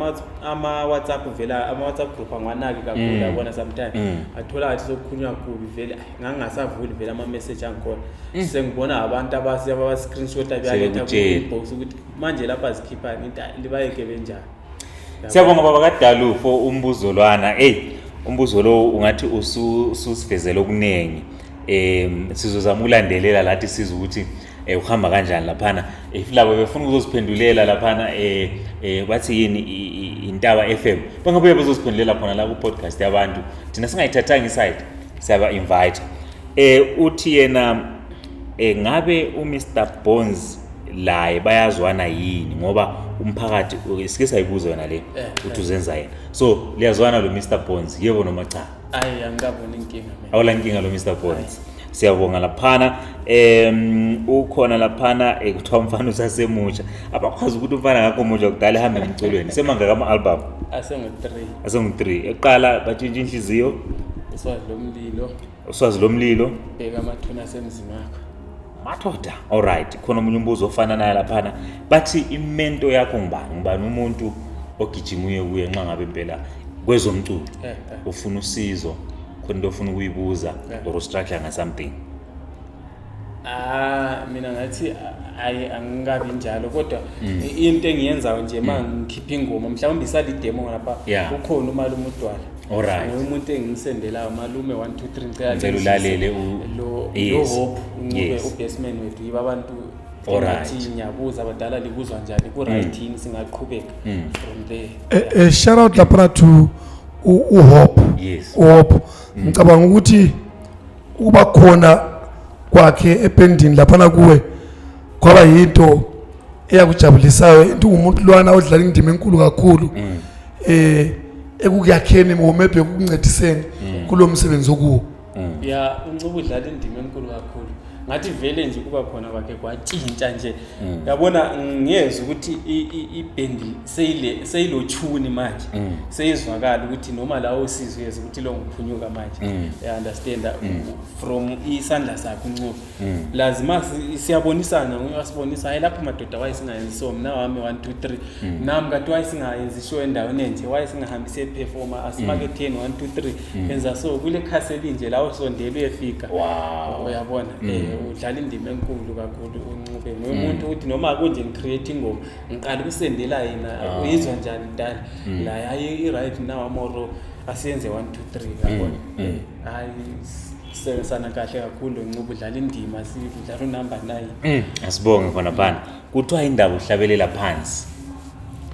ama-whatsapp vele ama-whatsapp group angiwanaki kakhulu mm. yabona sometimes mm. athola ngathi sokukhulunywa kubi vele ngangingasavuli vele ama-message angikhona eh. sengibona abantu abascreenshot abaletha kubox ukuthi manje lapha zikhiphani libayeke benjani siyabonga baba kadalu for umbuzolwana eyi umbuzo lowo ungathi ususivezela okuningi um sizozama ukulandelela lathi siza ukuthi eh uhamba kanjani laphana if labo befuna ukuzosiphendulela laphana eh eh bathi yini intaba FM bangabuye bazosiphendulela khona la ku podcast yabantu thina singayithathanga iside siyaba invite eh uthi yena eh ngabe u Mr Bones laye bayazwana yini ngoba umphakathi sike sayibuza yona le eh, uthi eh. uzenza yena so liyazwana lo Mr Bones yebo noma cha ayi angikaboni inkinga mina awula nkinga lo mr bond siyabonga laphana um ukhona laphana eh, kuthiwa umfana usasemusha abakwazi ukuthi umfana ngakho musha kudala ehambe emculweni semangaka ama-albhamu asengu-three asengu-three eqala batshintsha inhliziyo iswazi lomlilo uswazi lomlilo bheka amathuna asemzini wakho madoda alright khona omunye umbuzo ofana naye laphana bathi imento yakho ngubani ngubani umuntu ogijima uye kuye nxa ngabe impela kwezomculo eh, eh. ufuna usizo khona into ofuna ukuyibuza eh. or ustruggle nga something ah mina ngathi ayi angikabi njalo kodwa mm. into engiyenzayo nje uma mm. ngikhipha ingoma mhlawumbe isali demo lapha ukhona umalume udwala Alright. Umuntu engisendelayo malume 1 2 3 ngicela ulalele lo hope ube ubasement wethu yiba abantu Alright. ngathi ngiyabuza abadala likuzwa njani ku-right yini singaqhubeka Mm. from there Eh, eh, shout out laphana to u- uhope Yes. Mm. uhope ngicabanga ukuthi ukuba khona kwakhe ependini laphana kuwe kwaba yinto eyakujabulisayo into ungumuntu lwana odlala indima enkulu kakhulu Mm. eh ekukuyakheni or maybe ekukuncediseni kulo msebenzi okuwo mm. ya uNcuba udlala indima enkulu kakhulu ngathi vele nje kuba khona kwakhe kwatshintsha nje mm. yabona ngiyezwa ukuthi ibhendi seyile seyilochuni manje mm. seyizwakala ukuthi noma lawo usizwe yezwa ukuthi lo ngiphunyuka manje mm. i understand from isandla sakhe uncuba Mm. lazima siyabonisana asibonisa hayi lapho madoda waye singayenzi so mna wami 1 2 3 mm. nam kati waye singayenzi show endaweni enje waye singahambi siyephefoma asimaketheni 1 2 3 enza so kule khasi elinje lawo sondela uyefika uyabona mm. eh, udlala indima enkulu kakhulu unqube nguye umuntu ukuthi noma kunje ngicreate ingoma ngiqala ukusendela yena ah. uyizwa njani mdala la yaye i-right now amoro asiyenze 1 2 3 yabona hayi sisebenzisana kahle kakhulu ncuba udlala indima sidlala unumber nine Mm, asibonge khona phana kuthiwa indaba uhlabelela phansi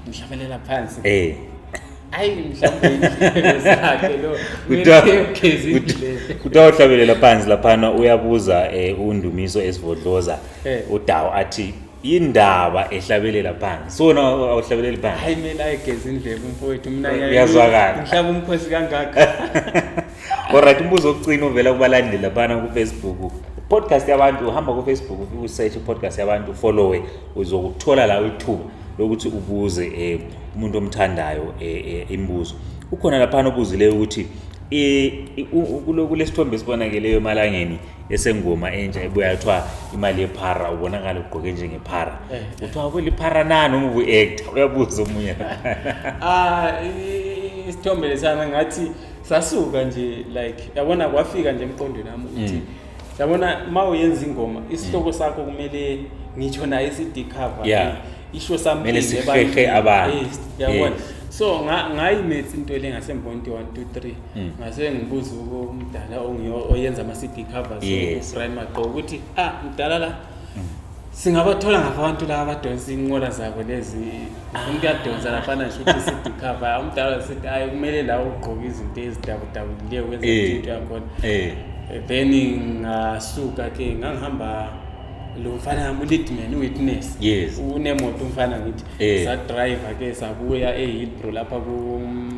ngihlabelela phansi eh ayi mhlawumbe indlebe zakhe lo Kuthiwa- ngiyogeza indlebe kuthiwa uhlabelela phansi laphana uyabuza um undumiso esivodloza Eh. udawu athi indaba ehlabelela phansi so wena awuhlabeleli phansi hayi mina ayigeza indlebe umfowethu mina uyazwakala ngihlaba umkhosi kangaka alright umbuzo wokucina ovela kubalandeli labana kufacebook podcast yabantu uhamba kufacebook ufike usearch podcast yabantu ufollowe uzokuthola la ithuba lokuthi ubuze eh, umuntu omthandayo eh, eh, imibuzo ukhona laphana obuzileyo ukuthi kulesithombe esibonakeleyo emalangeni esengoma entsha ebuya kuthiwa imali yephara ubonakala ugqoke njengephara eh, eh. kuthiwa kweliphara nani uma ubu-acta uyabuza omunye ah, isithombe lesana ngathi sasuka nje like yabona kwafika nje emqondweni wami ukuthi mm. yabona uma uyenza ingoma isihloko mm. sakho kumele ngitsho naye i-cd cover yeah. isho something abantu eh, yabona so ngayimethi into le ngasembondi 1 2 3 Mm. ngase ngibuza umdala oyenza ama-cd covers yes. brian maqo ukuthi ah mdala la mm. singabathola ngapha abantu laba abadonsa inqola zabo lezi umuntu uyadonsa lafana nje ukuthi cd cover umdala sithi ayi kumele la ugqoke izinto ezidabudabukileyo kwenza eh. into yakhona eh. then ngasuka ke ngangihamba lo mfana yami uleadman uwitness yes unemoto umfana ngithi eh. sadriver ke sabuya ehilbro lapha ku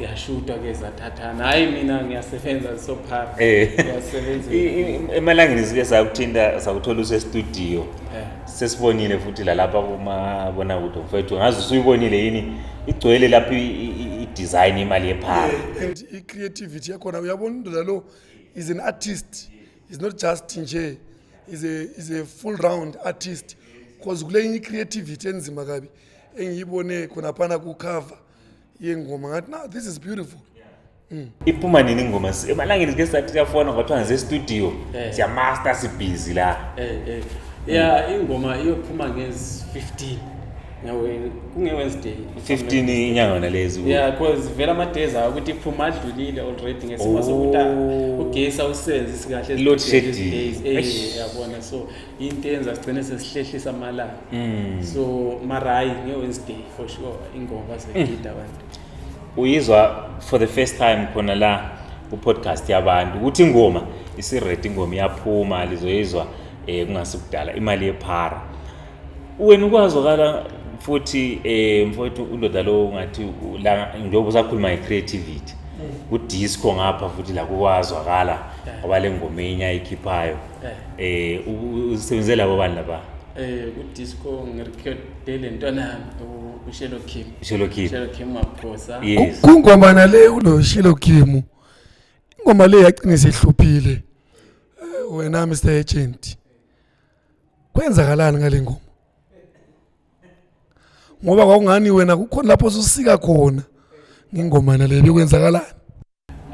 yashutwa ke zathathana hayi mina ngiyasebenza sophara eh. ngiyasebenza emalangeni zike sakuthinta sakuthola usestudio eh. sesibonile futhi lalapha kumabona kude mfethu ngazi usuyibonile yini igcwele lapho i-design imali yephara eh, and i-creativity yakhona uyabona indoda lo is an artist is not just nje is a, is a full round artist because kule inye i-creativity enzima kabi engiyibone khonaphana kucover yengoma ngathi now this is beautiful mm. iphuma nini ingoma emalangeni sike sathi siyafona ngathiwa ngize studio eh. siyamaster sibhizi la eh, eh. ya ingoma iyophuma ngezi 15 kunge-wednesday 15 inyanga nalezi ya because vele ama-days awo ukuthi iphuma adlulile already ngesimo sokuthi oh. ugesi awusenzi sikahle load shedding yabona so into eyenza sigcine sesihlehlisa amalanga mm. so marayi nge-wednesday for sure ingoma segida abantu mm. uyizwa for the first time khona la ku-podcast yabantu ukuthi ingoma isiredi ingoma iyaphuma lizoyizwa um kungase kudala imali yephara wena ukwazwakala futhi um mfowethu undoda lowo ungathi njengoba usakhuluma nge-creativity kudisco ngapha futhi la kukwazwakala ngoba le ngoma enye ayikhiphayo eh usebenze eh, labo bani laba eh ku disco ngirecorde le ntwana yami uShelo Kim Shelo Kim Shelo Kim maphosa yes kungoma nale ulo Shelo Kim ingoma le yagcina sehluphile eh, wena Mr Agent kwenzakalani ngale ngoma ngoba kwakungani wena kukhona lapho ususika khona ngingoma nale bekwenzakalani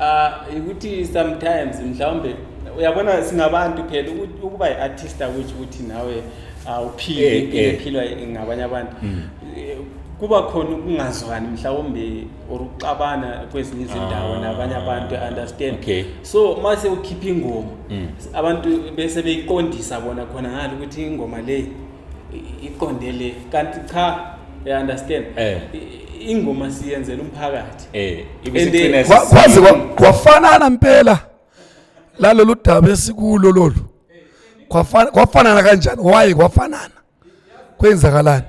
Ah ukuthi sometimes mhlawumbe uyabona singabantu phela ukuba iartist ukuthi ukuthi nawe awuphili eh, impilo eh. ephilwa ngabanye abantu. Hmm. Eh, kuba khona ukungazwani mhlawumbe or ukuxabana kwezinye izindawo ah, nabanye abantu understand okay. so uma sewukhipha ingoma mm. abantu bese beyiqondisa bona khona ngalo ukuthi ingoma le iqonde le kanti cha you understand eh. ingoma siyenzela umphakathi eh kwazi kwafanana impela lalolu daba esikulo lolu kwafanana kanjani why kwafanana kwenzakalani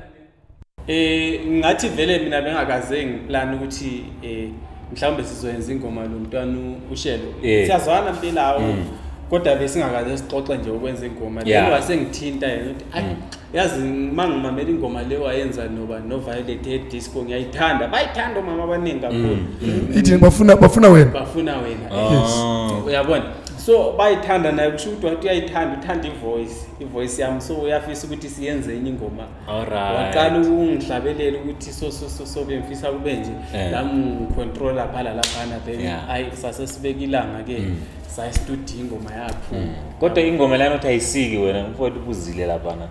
Eh ngathi vele mina bengakaze ngiplan ukuthi eh mhlawumbe sizoyenza ingoma lo mntwana ushelo. Eh. Siyazwana mpelawo. Mm. Kodwa besingakaze sixoxe nje ukwenza ingoma. Yeah. Lelo wasengithinta yena uthi ay mm. yazi mangimamela ingoma le wayenza noba no Violet e disco ngiyayithanda. Bayithanda omama abaningi kakhulu. Mm. Ithi bafuna bafuna wena. Bafuna wena. Ah. Yes. Uyabona? so bayithanda naye kusho ukuthi wathi uyayithanda uthanda ivoice ivoice yami so uyafisa ukuthi siyenze enye ingoma Alright. Waqala ukungihlabelela ukuthi so so so so bengifisa kube nje yeah. lamu controller phala laphana then yeah. ay sase sibeka ilanga ke mm. sayi studio ingoma yakho. Mm. Kodwa ingoma lana uthi ayisiki wena mfowethu ubuzile laphana.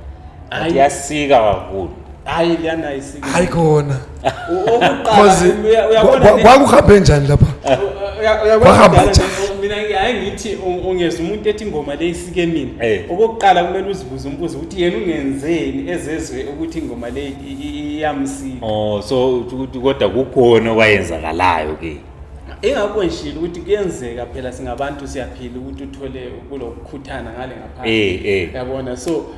Ayasika kakhulu. Hayi lana ayisiki. Hayi khona. Cause kwakuhambe njani lapha? Wahamba njani? Mina ngiyaye ngithi ungeza umuntu ethi ingoma le isike mina. Eh. Okokuqala kumele uzibuze umbuzo ukuthi yena ungenzeni ezezwe ukuthi ingoma le iyamsika. Oh so ukuthi kodwa kukhona okwayenzakalayo ke. Ingakho ngishilo ukuthi kuyenzeka phela singabantu siyaphila ukuthi uthole kulokukhuthana ngale ngaphandle. Eh, eh. Yabona so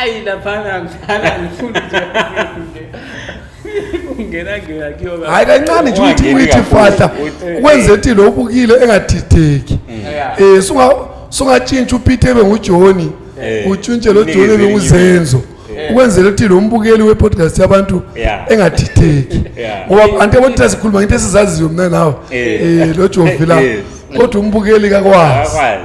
ayi laphana ngidlala ngifuna nje kungena ngena kuyoba hayi kancane nje uthi Ungangeni uyithi kakhulu. fahla Uthi- wenze ukuthi lo ubukile engadideki Yeah. um sunga sungatshintsha upeter ebe ngujoni Eh. utshintshe lo Unikeze joni ebe elinye nguzenzo ukwenzela ukuthi lo mbukeli we-podcast yabantu Yeah. engadideki Yeah. ngoba abantu yabona sikhuluma ngento esizaziyo mna nawe Eh. um lo jovila Yes. kodwa umbukeli kakwazi akwazi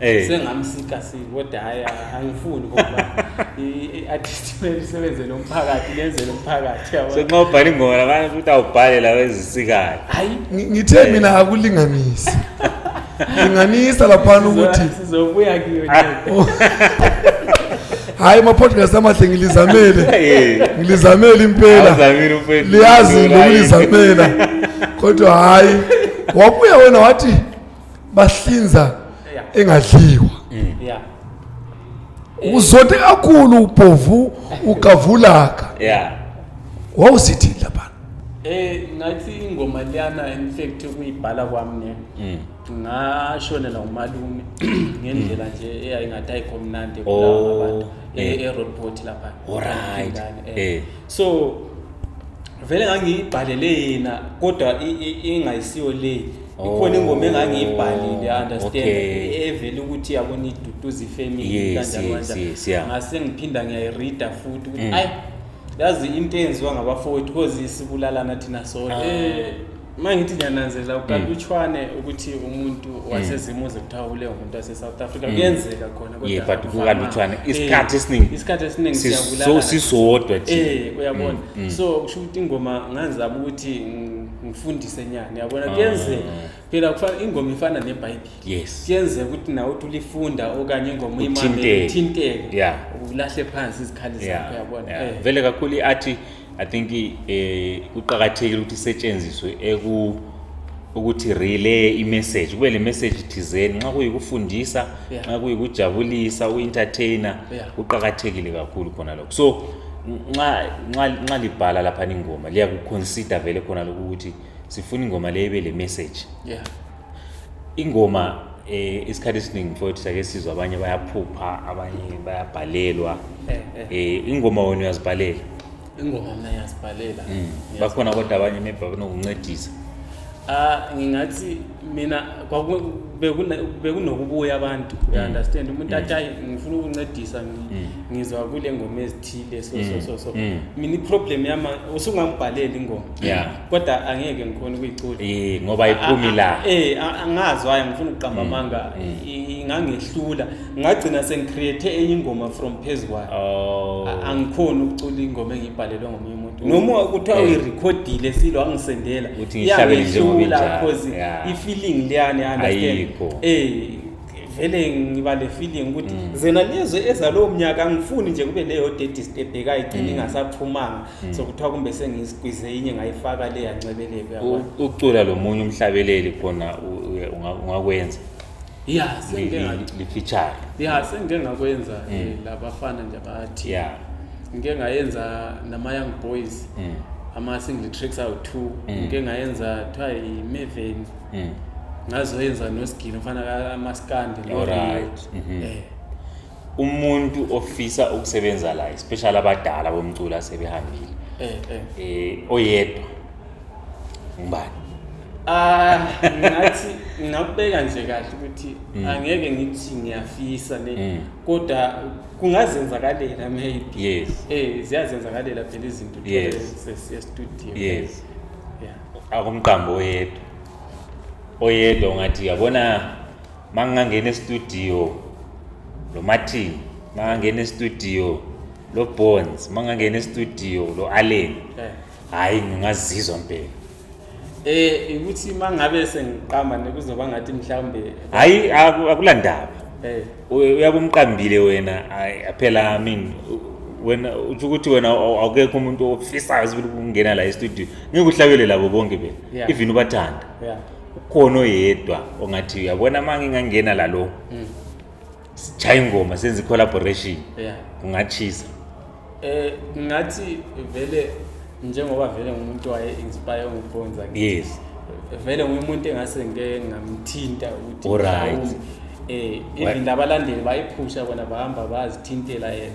Eh. sengamsika si kodwa hhayi angifuni ngoba i-artist kumele isebenzele umphakathi lenzele umphakathi yabo Senxa ubhala ingoma labanye futhi awubhale lawo ezisikayo. hayi Ngi- ngithe mina akulinganise linganisa laphana ukuthi sizo- sizobuya kiyo nje. hhayi ama-podcast amahle ngilizamele Eh. ngilizamele impela Awuzamile umfethu. liyazi Ulula yini? lokulizamela kodwa hhayi wabuya wena wathi bahlinza engadliwa yeah uzothi kakhulu ubhovu ugavulaka yeah wawusithini lapha eh ngathi ingoma liyana in fact kuyibhala kwami ne mm. ngashonela umalume ngendlela nje eyayingathi ayikho mnandi oh, kulawa abantu e, eh. e-road port lapha alright eh. eh. so vele ngangiyibhalele yena kodwa ingayisiyo le ikhona ingoma engangiyibhalile oh, understand okay. evele ukuthi yabona iduduza ifamily yes, kanjani yes, yes, yeah. ngase ngiphinda ngiyayireader futhi ukuthi mm. ayi yazi into eyenziwa ngabafowethu because sibulalana thina sonke ah. eh, uma ngithi ngiyananzela ukalutshwane mm. ukuthi umuntu mm. wasezimuze kuthiwa ule umuntu wase-south africa mm. kuyenzeka khona ye but kukalutshwane eh, isikhathi esiningi isikhathi esiningi siyabulala sisodwa nje eh, uyabona so kusho ukuthi ingoma ngazama ukuthi ngifundise nyana uyabona kuyenzeka mm. phela kufana ingoma ifana nebhayibheli yes kuyenzeka ukuthi nawe uthi ulifunda okanye ingoma uyimamele uthinteke yeah ulahle phansi izikhali zakho uyabona yeah. yeah. vele kakhulu iathi i think eh kuqhakathekile ukuthi isetshenziswe eku ukuthi relay imessage kube le message thizeni nxa kuyikufundisa nxa yeah. kuyikujabulisa uentertainer yeah. kuqhakathekile kakhulu khona lokho so nxa nxa nxa libhala lapha ingoma liyakuconsider vele khona lokuthi sifuna ingoma le ibe le message yeah ingoma eh isikhathi esiningi mfowethu sake sizwa abanye bayaphupha abanye bayabhalelwa eh, eh. eh ingoma wena uyazibhalela ingoma mina ngiyazibhalela mm. bakhona kodwa abanye maybe banokuncedisa ah ngingathi mina bekunokubuya abantu mm. understand umuntu mm. athi ayi ngifuna ukuncedisa mm. ngizwa kule ngoma ezithile so so so so mina iproblem yama usungambhaleli ingoma kodwa angeke ngikhona ukuyicula eh ngoba iphumi la eh angazi waye ngifuna ukuqamba amanga ingangehlula ngagcina sengicreate enye ingoma from phezukwayo oh. angikhona ukucula ingoma engiyibhalelwe ngomunye noma kuthiwa eh. uyirekhodile silo wangisendela iyangehlula cause i-feeling leyani understand eh vele ngiba le feeling ukuthi mm. zena lezwe ezalowo mnyaka angifuni nje kube leyo daddy step ekayigcina mm. ingasaphumanga mm. so kuthiwa kumbe sengisigwize inye ngayifaka le yancebeleko ucula lo munye umhlabeleli khona ungakwenza ya lifitshane ya sengike ngakwenza mm. eh, labafana nje abathi ya ngike ngayenza nama-young boys mm. ama-single tricks awu-two mm. ngike ngayenza kuthiwa yimeveni mm. ngazoyenza nosigini ofana amaskandi lorit mm -hmm. eh. umuntu ofisa ukusebenza la especially abadala bomculo asebehambile eh eh, eh oyedwa ngubani ah ngathi ngakubeka nje kahle ukuthi mm. angeke ngithi ngiyafisa ne mm. kodwa kungazenzakalela maybe yes eh ziyazenzakalela phela izinto yes sesiya studio yes yeah akumqambo oyedwa oyedwa ngathi yabona uma ngingangena estudio lo martin uma ngangena estudio lo bones uma ngangena estudio lo allen Eh. hhayi ngingazizwa mpela Eh ukuthi uma ngabe sengiqamba nekuzoba ngathi mhlawumbe hhayi aku- akulandaba eh Uy- uyakumqambile wena ayi, phela i mean u- wena utsho ukuthi wena aw- awukekho umuntu ofisayo sibili ukungena la estudio ngeke uhlabele labo bonke bena Yeah. even ubathanda yeah ukhona oyedwa ongathi uyabona uma ngingangena lalo mm. sijhaye ingoma senze i-collaboration yeah. kungachisa eh ngathi vele njengoba vele ngumuntu waye inspire ngibonza yes vele ngumuntu engase ngeke ngamthinta ukuthi right eh even abalandeli bayiphusha bona bahamba bazithintela yena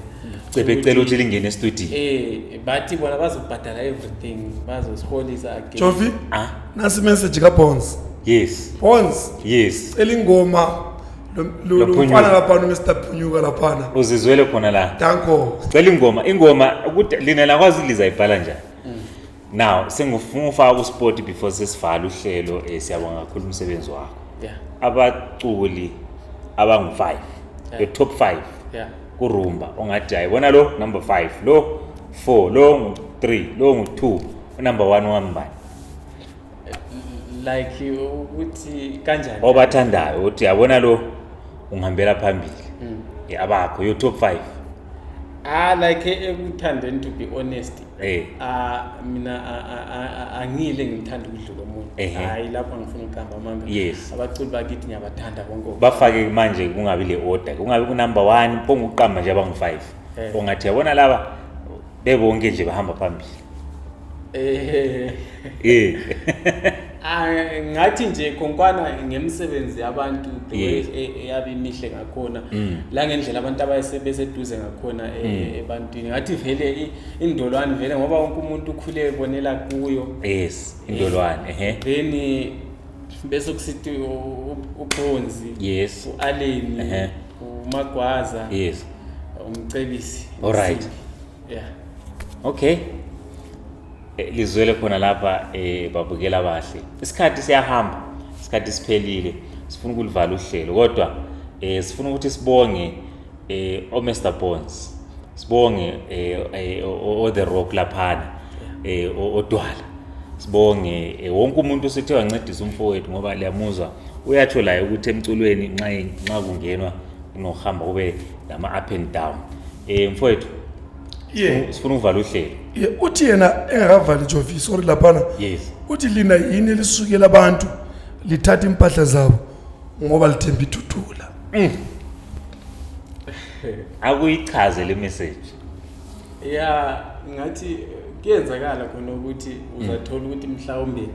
cebe cela ukuthi lingene e-studio eh bathi bona bazobhadala everything bazosiholisa again Jovi ah nasi message ka Bonds yes Bonds yes cela ingoma lomfana laphana Mr Phunyuka laphana uzizwele khona la danko cela ingoma ingoma ukuthi lina lakwazi liza ibhala njani now sengifuna ufaka ku sport before sesivala uhlelo eh, siyabonga kakhulu umsebenzi wakho yeah abaculi abangu 5 yeah. the top 5 yeah kurumba ongathi ayibona lo number 5 lo 4 lo ngu 3 lo ngu 2 number 1 wambani like ukuthi kanjani obathandayo ukuthi yabona lo ungihambela phambili mm. yabakho yo top 5 ah like ekuthandeni to be honest eh ah mina angile ngithanda ukudlula umuntu hayi lapha ngifuna ukuqamba amanga yes abaculi bakithi ngiyabathanda bonke bafake manje kungabi le order kungabi ku number 1 ponga ukuqamba nje abangu 5 eh. ongathi yabona laba bebonke nje bahamba phambili eh eh ah, ngathi nje konkwana ngemisebenzi yabantu e, e, yabe imihle ngakhona mm. la ngendlela abantu abayesebeseduze ngakhona e, mm. ebantwini ngathi vele indolwane vele ngoba wonke umuntu ukhule ebonela kuyo yes indolwane ehe then bese kusithi ubronzi yes ualeni umagwaza yes umcebisi all right yeah okay eh, lizwele khona lapha eh babukela abahle isikhathi siyahamba isikhathi siphelile sifuna ukulivala uhlelo kodwa eh sifuna ukuthi sibonge eh o Mr Bones sibonge eh, eh o The Rock laphana eh odwala sibonge eh, wonke umuntu osethe wancedisa umfowethu ngoba liyamuzwa uyatsho laye ukuthi emculweni nxa nxa kungenwa unohamba kube lama up and down eh mfowethu Yeah. sifuna ukuvala uhlelo Ye, uthi yena engakavali jovi sorry laphana yes uthi lina yini elisukela abantu lithatha impahla zabo ngoba lithemba ithuthula akuyichaze le message ya ngathi kuyenzakala khona ukuthi uzathola ukuthi mhlawumbe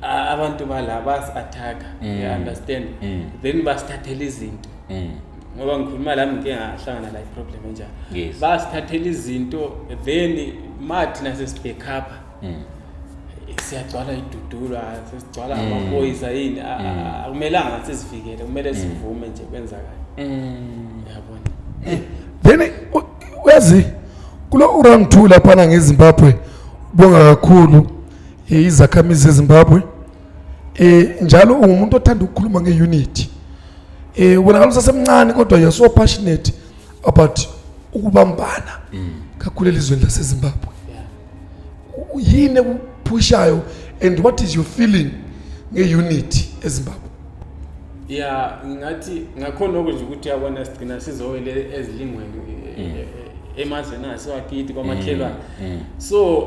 a- abantu bala basi-attack-a you understand then basithathela izinto ngoba ngikhuluma lami ngike ngahlangana la iproblem enjalo Yes. basithathela izinto then ma thina sesibhekhapha mm. siyagcwala idudulwa sesigcwala mm. amaphoyisa yini mm. akumelanga ngathi sizivikele kumele mm. sivume nje kwenzakala mm. yabona eh, then wezi kulo urang 2 laphana ngezimbabwe bonga kakhulu eh, izakhamizi zezimbabwe eh njalo ungumuntu othanda ukukhuluma ngeunity eh wena ngalo sasemncane kodwa you're so passionate about ukubambana mm. kakhulu elizweni lasezimbabwe yini ekuphushayo and what is your feeling nge-unity ezimbabwe ya ngingathi ngakhona oku nje ukuthi yabona sigcina sizowele ezilingweni mm. eh, eh, emazweni asewakithi kwamakhelwane mm, so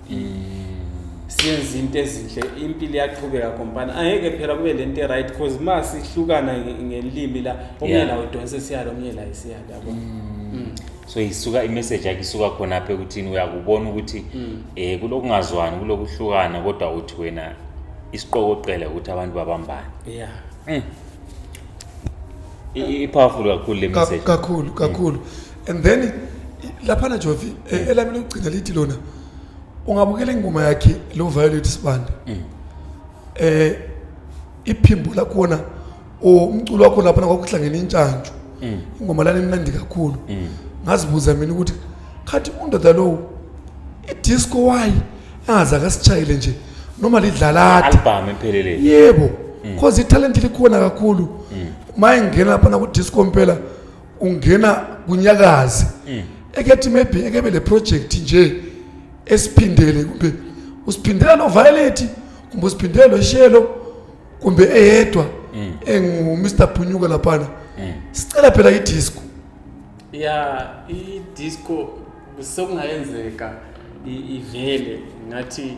siyenza into ezinhle impilo iyaqhubeka kompana angeke phela kube le nto right because uma sihlukana ngelimi la omunye la udonse siyalo omunye la isiyalo yabo mm. mm. so isuka imessage yakhe isuka khona apha ekuthini uyakubona ukuthi mm. eh kulokungazwani kulokuhlukana kodwa uthi wena isiqokoqela ukuthi abantu babambane yeah mm. i-powerful kakhulu le message kakhulu kakhulu and then laphana Jovi e, elami lokugcina lithi lona ungabukela ingoma yakhe lo Violet Sibanda mm. eh iphimbo lakhona umculo wakho lapha kwakuhlangene intshantshu mm. ingoma lana imnandi kakhulu mm. ngazibuza mina ukuthi khathi undoda lowo idisco wayi aze akasishayile nje noma lidlalade album empheleleni yebo cause italent likhona kakhulu maye ngena lapha na ku disco mpela ungena kunyakazi ekethi maybe ekebe le project nje esiphindele kumbe usiphindela no violet kumbe usiphindela no shelo kumbe eyedwa engu Mr Phunyuka lapha sicela phela i disco ya i disco Sekungayenzeka ivele ngathi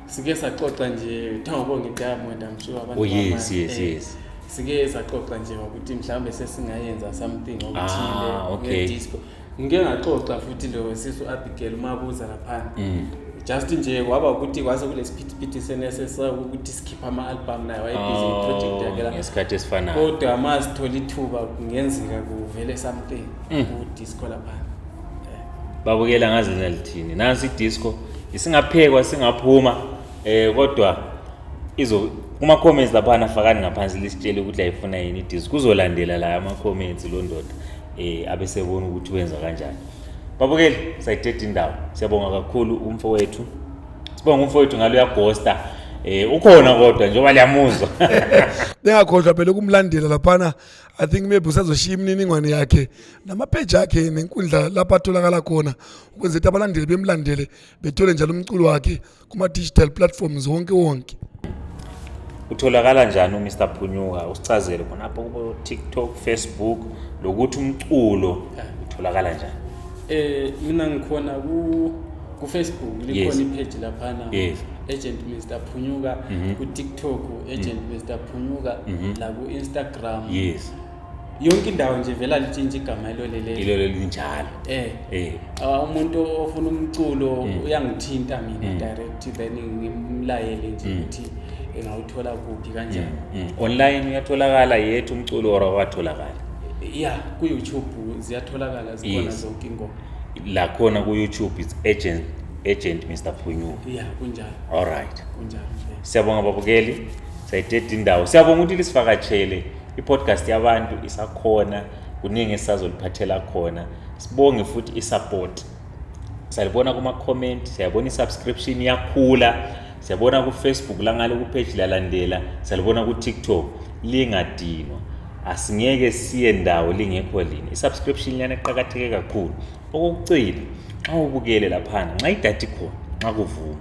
sike saxoxa nje kuthiwa ngibonge diamond I'm sure abantu. Oh yes yes eh, yes. Sike saxoxa nje ukuthi mhlawumbe sesingayenza something okuthile ah, okay. nge-disco. Ngike ngaxoxa futhi lo sisu Abigail umabuza lapha. Mm. just nje waba ukuthi kwase kulesiphithiphithi senesesa ukuthi sikhipha ama-album naye wayebhizi oh, iproject yakhe laesikhathi esifanayo kodwa uma sithola ithuba kungenzeka kuvele something mm. kudisco laphana babukela ngaze nalithini nansi idisco isingaphekwa singaphuma eh kodwa izo kuma comments lapha nafakani ngaphansi lisitshele ukuthi ayifuna yini idisco kuzolandela la ama comments lo ndoda eh abesebona ukuthi wenza kanjani babukeli sayithethe indawo siyabonga kakhulu umfowethu sibonga umfowethu ngalo uyagosta eh ukhona kodwa njengoba liyamuzwa ningakhohlwa phela ukumlandela laphana i think maybe usazoshiya imininingwane yakhe namapheji akhe nenkundla lapho atholakala khona ukwenza ukuthi abalandeli bemlandele bethole njalo umculo wakhe kuma-digital platforms wonke wonke utholakala njani uMr Phunyuka usicazele khona apho kubo TikTok, Facebook lokuthi umculo utholakala njani eh mina ngikhona ku ku Facebook likhona ipage laphana yes agent Mr Phunyuka mhm. ku TikTok agent Mr mhm. Phunyuka mhm. la ku Instagram Instagram. Yes. Yonke indawo nje vela litshintsha igama elo lele. Ilo lelinjalo. Eh. Eh. Uh, umuntu ofuna umculo mm. uyangithinta mina mm. direct then ngimlayele nje mm. ukuthi mm. engawuthola kuphi kanjani. Mm. Mm. Online uyatholakala yethu umculo or awatholakala. Yeah, ku YouTube ziyatholakala zikhona yes. zonke ingoma. La khona ku YouTube it's agent agent Mr Phunyuka. Yeah, kunjalo. All right. Kunjalo. Siyabonga babukeli. sayideda indawo siyabonga ukuthi lisivakatshele i-podcast yabantu isakhona kuningi esisazoliphathela khona sibonge futhi i-support salibona kuma-comment siyabona i-subscription iyakhula siyabona kufacebook langale kupage lalandela salibona kutiktok lingadinwa asingeke siye ndawo lingekho lini i-subscription liyana eqakatheke kakhulu okokucina nxa ubukele laphana nxa idathi khona nxa kuvuma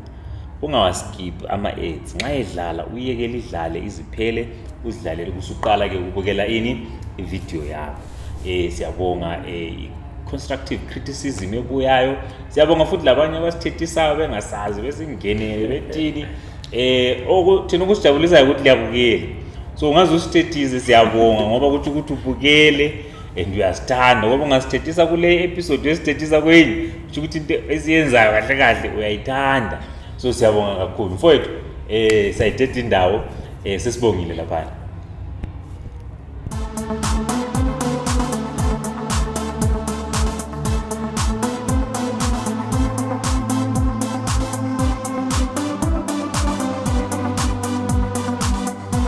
ungawaskip ama-ads nxa edlala uyeke lidlale iziphele uzidlalele kusuqala ke ukubukela ini ividiyo yakho um siyabonga um constructive criticism ebuyayo siyabonga futhi labanye abasithethisayo bengasazi besingenele bethini um thina okusijabulisayo ukuthi liyabukela so ungaze usithethize siyabonga ngoba kuthi ukuthi ubukele and uyasithanda ngoba ungasithethisa kule episode uyasithethisa kwenye kusho ukuthi into esiyenzayo kahle kahle uyayithanda so siyabonga kakhulu mfowethu um sayithetha indawo um sesibongile laphana